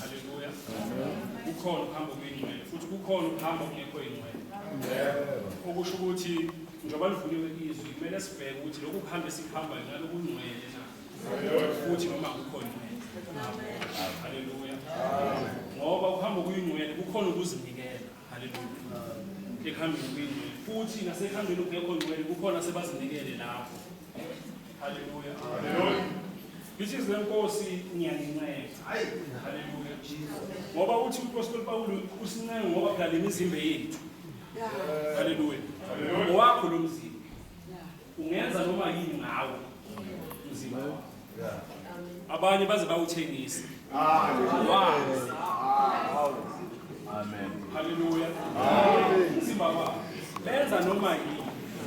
Haleluya. Kukhona ukuhamba okuyingcwele futhi kukhona ukuhamba okungekho ingcwele. Okusho ukuthi njengoba livuliwe izwi kumele sibheke ukuthi lokhu kuhamba esikuhambayo ngalo kungcwele na futhi noma kukho ngcwele. Haleluya. Ngoba ukuhamba okuyingcwele kukhona ukuzinikela. Hallelujah. Ekuhambeni kwingcwele futhi nasekuhambeni okungekho ngcwele kukhona sebazinikele lapho. Hallelujah. Hallelujah. Ngithi izinkosi ngiyanincenga. Hayi. Hallelujah. Ngoba uthi uPostoli Pawulu usincenga ngoba phela lemizimba yethu. Hallelujah. Hallelujah. Owakho lo mzimba. Ungenza noma yini ngawo umzimba wakho. Abanye baze bawuthengise. Wazi. Amen. Haleluya. Umzimba wakho. Benza noma yini.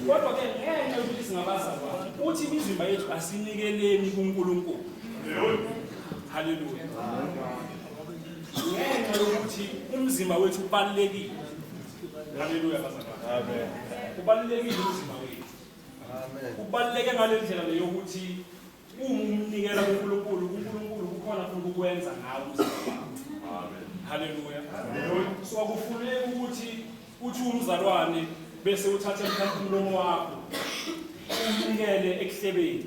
Kodwa ke ngenxa yokuthi singabazalwane, uthi imizimba yethu asinikeleni kuNkulunkulu. Haleluya. Ngenxa yokuthi umzimba wethu ubalulekile. Haleluya bazalwane. Amen. Kubalulekile umzimba wethu. Amen. Kubaluleke ngalendlela leyokuthi uma umnikela kuNkulunkulu, uNkulunkulu kukhona futhi ukwenza ngawo umzimba. Amen. Haleluya. Amen. So akufuneki ukuthi uthi umzalwane bese uthatha mhlawumbe umlomo wakho umnikele ekuhlebeni.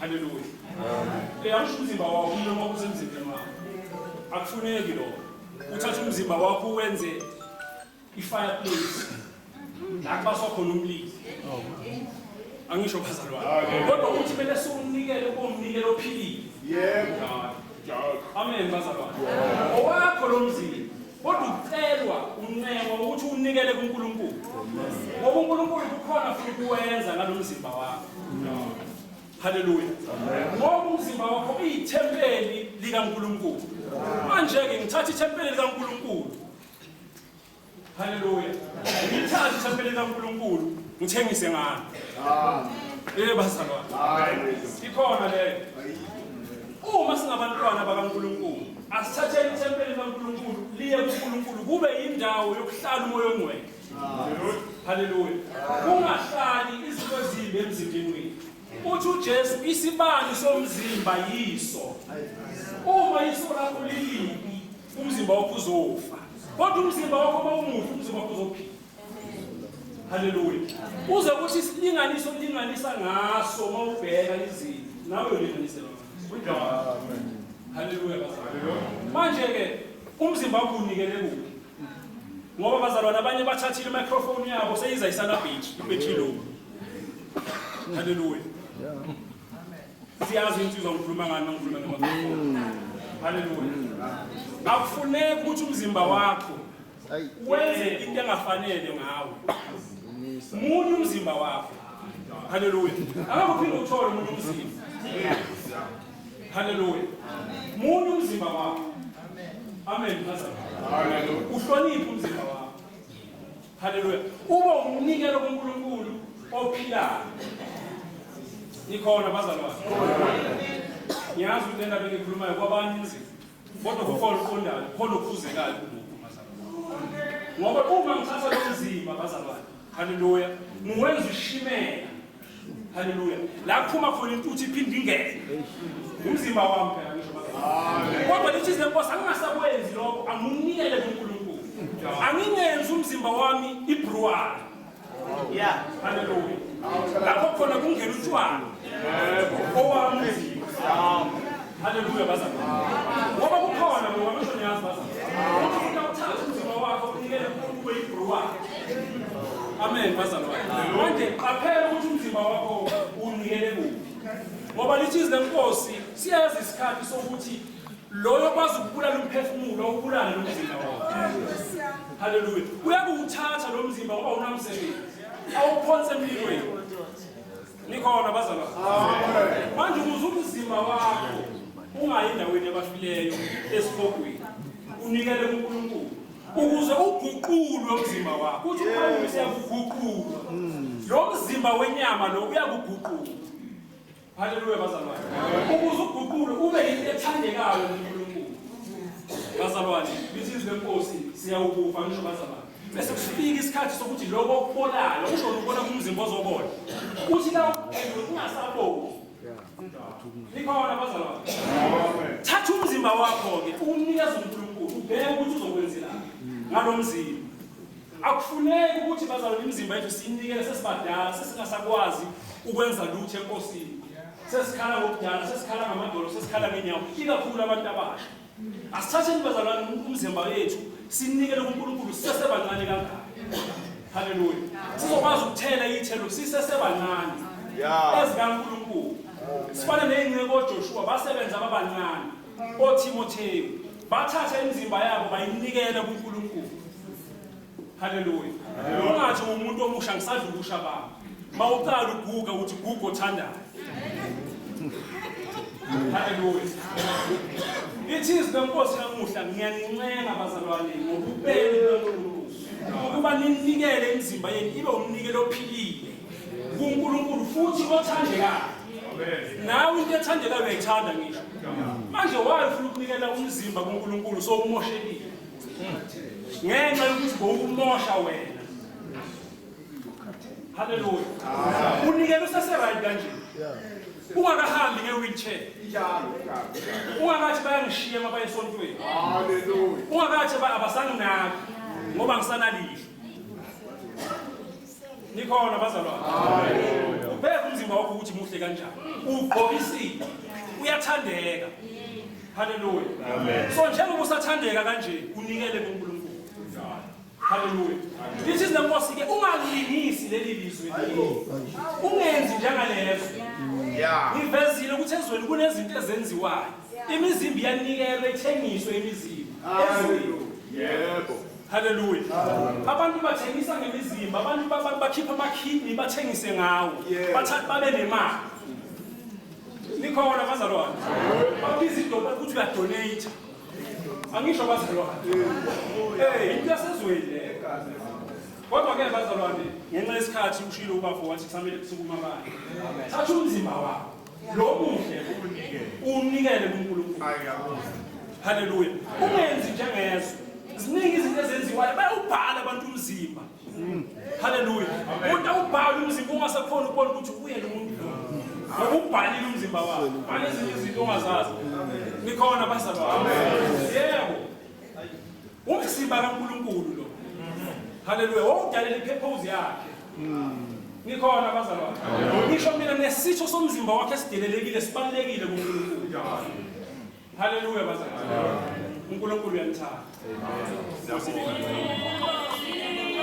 Haleluya. Amen. Uyasho umzimba wakho umlomo wakho usemzimbeni wakho. Akufuneki lokho. uthatha umzimba wakho uwenze i-fireplace la kubaswa khona umlilo angisho bazalwane kodwa uthi kumele siwunikele komnikelo ophilile yebo amen bazalwane owakho lo mzimba kodwa ucelwa uncengo ukuthi unikele kuNkulunkulu ngoba uNkulunkulu kukhona futhi kuwenza ngalomzimba wakho Haleluya. Ngoba umzimba wakho uyithempeli likaNkulunkulu. Manje-ke ngithatha ithempeli likaNkulunkulu. Haleluya. Ngithatha ithempeli likaNkulunkulu ngithengise ngalo. Eh bazalwane. Ikhona leyo. Uma singabantwana bakaNkulunkulu, asithatheni ithempeli likaNkulunkulu liye kuNkulunkulu kube yindawo yokuhlala umoya ongcwele. Haleluya. Kungahlali izinto ezimbi emzimbeni wethu. Uthi uJesu isibani somzimba yiso. Uma iso lakho lilibi, umzimba wakho uzofa. Kodwa umzimba wakho uma umuhle, umzimba wakho uzophila. Haleluya. Uze kuthi isilinganiso ulinganisa ngaso uma ubheka izinto, nawe ulinganisela ngaso. Haleluya. Manje-ke umzimba wakho unikele kuphi? ngoba bazalwane abanye bathathile imicrophone yabo seyiza isalabhithi ibethilungu haleluya siyazi insizwa ngikhuluma ngani mangikhuluma ngamafoni haleluya akufuneki ukuthi umzimba wakho wenze into engafanele ngawo munye umzimba wakho haleluya angakuphinde uthole umuntu umzimba Haleluya. Munye umzimba wakho. Amen. Haleluya. Uhloniphe umzimba wakho. Haleluya. Uba umnikelo kuNkulunkulu ophilayo. Nikhona bazalwane. Ngiyazi ukuthi lendaba engikhulumayo kwabanye inzima. Kodwa kukhona uqondayo, khona okufuzekayo kumuntu bazalwane. Ngoba uma ngithatha lo mzimba bazalwane Haleluya. Muwenza ushimela. Haleluya. La phuma khona intuthu iphinde ingene. Umzimba wami phela ngisho manje. Kodwa lithi izinkosi angingasakwenzi lokho anginikele kuNkulunkulu. Angingenzi umzimba wami ibruwala. Yeah. Haleluya. Lapho khona kungena utshwala. Owami umzimba. Haleluya bazalwane. Ngoba kukhona ngoba kusho niyazi bazalwane. Umuntu awuthatha umzimba wakho unikele uNkulunkulu kube yibhru wakhe. Amen bazalwane. Manje qaphela ukuthi umzimba wakho unikele kuphi. Ngoba lithi izwi lenkosi siyazi isikhathi sokuthi loyo kwazi ukubulala umphefumulo ubulale lo mzimba wakho. Haleluya. Uyakuwuthatha lo mzimba ngoba unamsebenzi. Awuphonse empilweni. Nikhona bazalwa. Manje ukuze umzimba wakho ungayi endaweni yabafileyo esihogweni. Unikele kuNkulunkulu ukuze uguqulwe umzimba wakho. Uthi uPawulu siyakuguqulwa. Lo mzimba wenyama lo uyakuguqula. Haleluya bazalwane. Ukuze uguqulwe ube yinto ethandekayo kuNkulunkulu. Bazalwane, lithi izwi lenkosi siyawukufa ngisho bazalwane. bese kufika isikhathi sokuthi lokho okubolayo usho ukubona kumzimba ozobola uthi la uphendula ungasaboni nikhona abazalwane thatha umzimba wakho-ke uwunikeza unkulunkulu ubheke ukuthi uzokwenzelani ngalo mzimba akufuneki ukuthi bazalwane imizimba yethu siyinikele sesibadala sesingasakwazi ukwenza lutho enkosini sesikhala ngokudala sesikhala ngamadolo sesikhala ngenyawo ikakhulu abantu abasha Asithatheni bazalwane umzimba wethu sinikele kuNkulunkulu sisesebancane kangaka. Haleluya. Sizokwazi ukuthela ithelo sisesebancane. Yeah. EzikaNkulunkulu. Sifana nezinceku oJoshua basebenza ababancane. OTimotheyu bathatha imizimba yabo bayinikela kuNkulunkulu. Haleluya. Ungathi umuntu omusha ngisadla ubusha bami. Mawuqala uguga uthi guga othandayo. Haleluya. Ithizi lenkosi namuhla ngiyanincenga bazalwane ngokubeni kwenkulumo ukuba ninikele imizimba yenu ibe umnikelo ophilile kuNkulunkulu futhi othandekayo. Nawe into ethandekayo uyayithanda ngisho. Manje wayo ufuna ukunikela umzimba kuNkulunkulu so umoshelile. ngenxa yokuthi bowukumosha wena haleluya unikela useseright kanje ungakahambi nge-wheelchair ungakathi bayangishiya uma baye esontweni ungakathi abasanginaki ngoba ngisanalihlo nikhona bazalwane ubheka umzimba wakho ukuthi muhle kanjani ugqokisile uyathandeka haleluya so njengoba usathandeka kanje unikele kunkulunkulu haleluya this is the most ke ungalingisi leli lizwe ungenzi njengalezo ngivezile ukuthi ezweni kunezinto ezenziwayo imizimba iyanikelwa ithengiswe imizimba ezweni yebo Hallelujah. Abantu bathengisa ngemizimba, abantu baba- bakhipha ama-kidney bathengise ngawo. Yeah. Bathathe babe nemali. Nikhona bazalwane. Babiza idola ukuthi uyadonate. Angisho bazalwane. Eh, into yasezweni le. Kodwa ke bazalwane, ngenxa yesikhathi ushilo ubafo wathi kusamele kusukuma abantu. Thatha umzimba wakho. Lo muhle uwunikele kuNkulunkulu. Haleluya. Ungenzi njengezo. Ziningi izinto ezenziwayo bayawubhala abantu umzimba. Mm. Haleluya. Umuntu awubhala umzimba ungasakhona ukubona ukuthi uyena umuntu lo. Ngoba ubhalile umzimba wakhe. Bhala ezinye izinto ongazazi. Nikhona bazalwane. Yebo. Umzimba kaNkulunkulu lo. Haleluya. Wawudalela i-purpose yakhe. Nikhona abazalwane. Ngisho mina nesitho somzimba wakhe esidelelekile sibalekile kuNkulunkulu. Haleluya bazalwane. uNkulunkulu uyanithanda. Amen.